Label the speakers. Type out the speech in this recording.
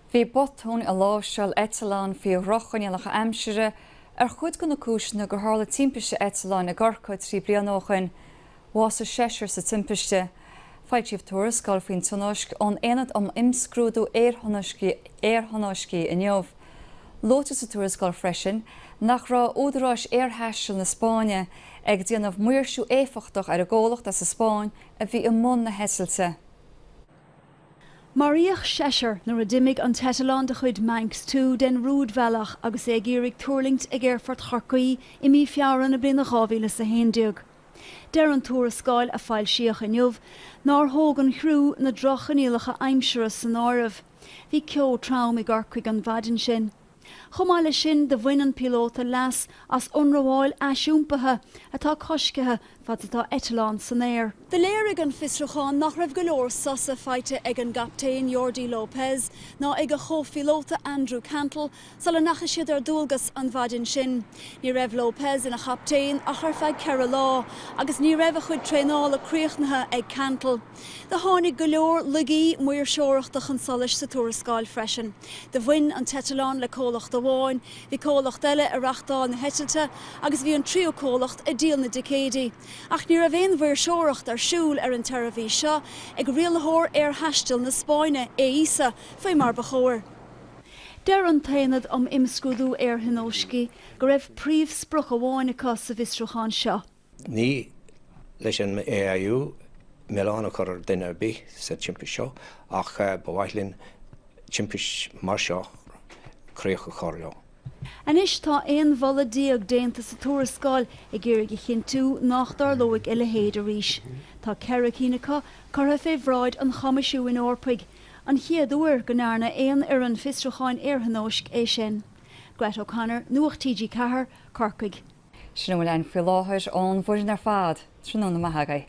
Speaker 1: Bhí botúin i láimhseáil eitleáin faoi dhroch-choinníollacha aimsire ar chuid de na cúiseanna gur tharla timpiste eitleáin i gCorcaigh trí bliana ó shin. Bhásaigh seisear sa timpiste. Foilsíodh tuarascáil faoin tionóisc ón Aonad um Imscrúdú Aerthionóiscí inniu. Luaitear sa tuarascáil freisin nach raibh údaráis aerthaistil na Spáinne ag déanamh maoirsiú éifeachtach ar an gcomhlacht as an Spáinn a bhí i mbun na heitilte.
Speaker 2: Maraíodh seisear nuair a d'imigh an t-eitleán de chuid Manx Two den rúidbhealach agus é ag iarraidh tuirlingt ag aerfort Chorcaí i mí Feabhra na bliana 2011. Deir an tuarascáil, a foilsíodh inniu, nár thóg an criú na droch-choinníollacha aimsire san áireamh. Bhí ceo trom i gCorcaigh an mhaidin sin. Chomh maith leis sin do bhain an píolóta leas as ionramháil aisiompaithe atá coiscthe fad atá eitleán san aer. Do léirigh an fiosrúchán nach raibh go leor sosa faighte ag an gcaptaen Jordi Lopez ná ag a chomhphíolóta Andrew Cantle sula ndeachaigh siad ar dualgas an mhaidin sin. Ní raibh Lopez ina chaptaen ach ar feadh ceithre lá agus ní raibh a chuid traenála críochnaithe ag Cantle. Do tháinig go leor laigí maoirseoireachta chun solais sa tuarascáil freisin. Do bhain an t-eitleán le comhlacht amháin, bhí comhlacht eile ag reáchtáil na heitilte agus bhí an tríú comhlacht ag díol na dticéidí. Ach ní raibh aon mhaoirseoireacht ar siúl ar an tseirbhís seo ag rialaitheoir aerthaistil na Spáinne, AESA, faoi mar ba chóir. Deir an tAonad um Imscrúdú Aerthionóiscí go raibh príomhsprioc amháin acu sa bhfiosrúchán seo.
Speaker 3: Ní leis an AAIU milleán a chur ar dhuine ar bith sa timpist seo ach ba mhaith linn timpist mar seo críoch a chur leo. Anois
Speaker 2: tá 11 mholadh déanta sa tuarascáil ag iarraidh a chinntiú nach dtarlóidh a leithéid arís. Tá ceithre cinn acu curtha fé bhráid an Choimisiúin Eorpaigh, An chéad uair go ndearna aon fhoireann fiosrúcháin aerthionóisc é sin. Grett O'Connor, Nuacht TG4,
Speaker 1: Corcaigh. Sin a bhfuil againn faoi láthair ón bhfoireann ar fad.
Speaker 2: Tráthnóna
Speaker 1: maith agaibh.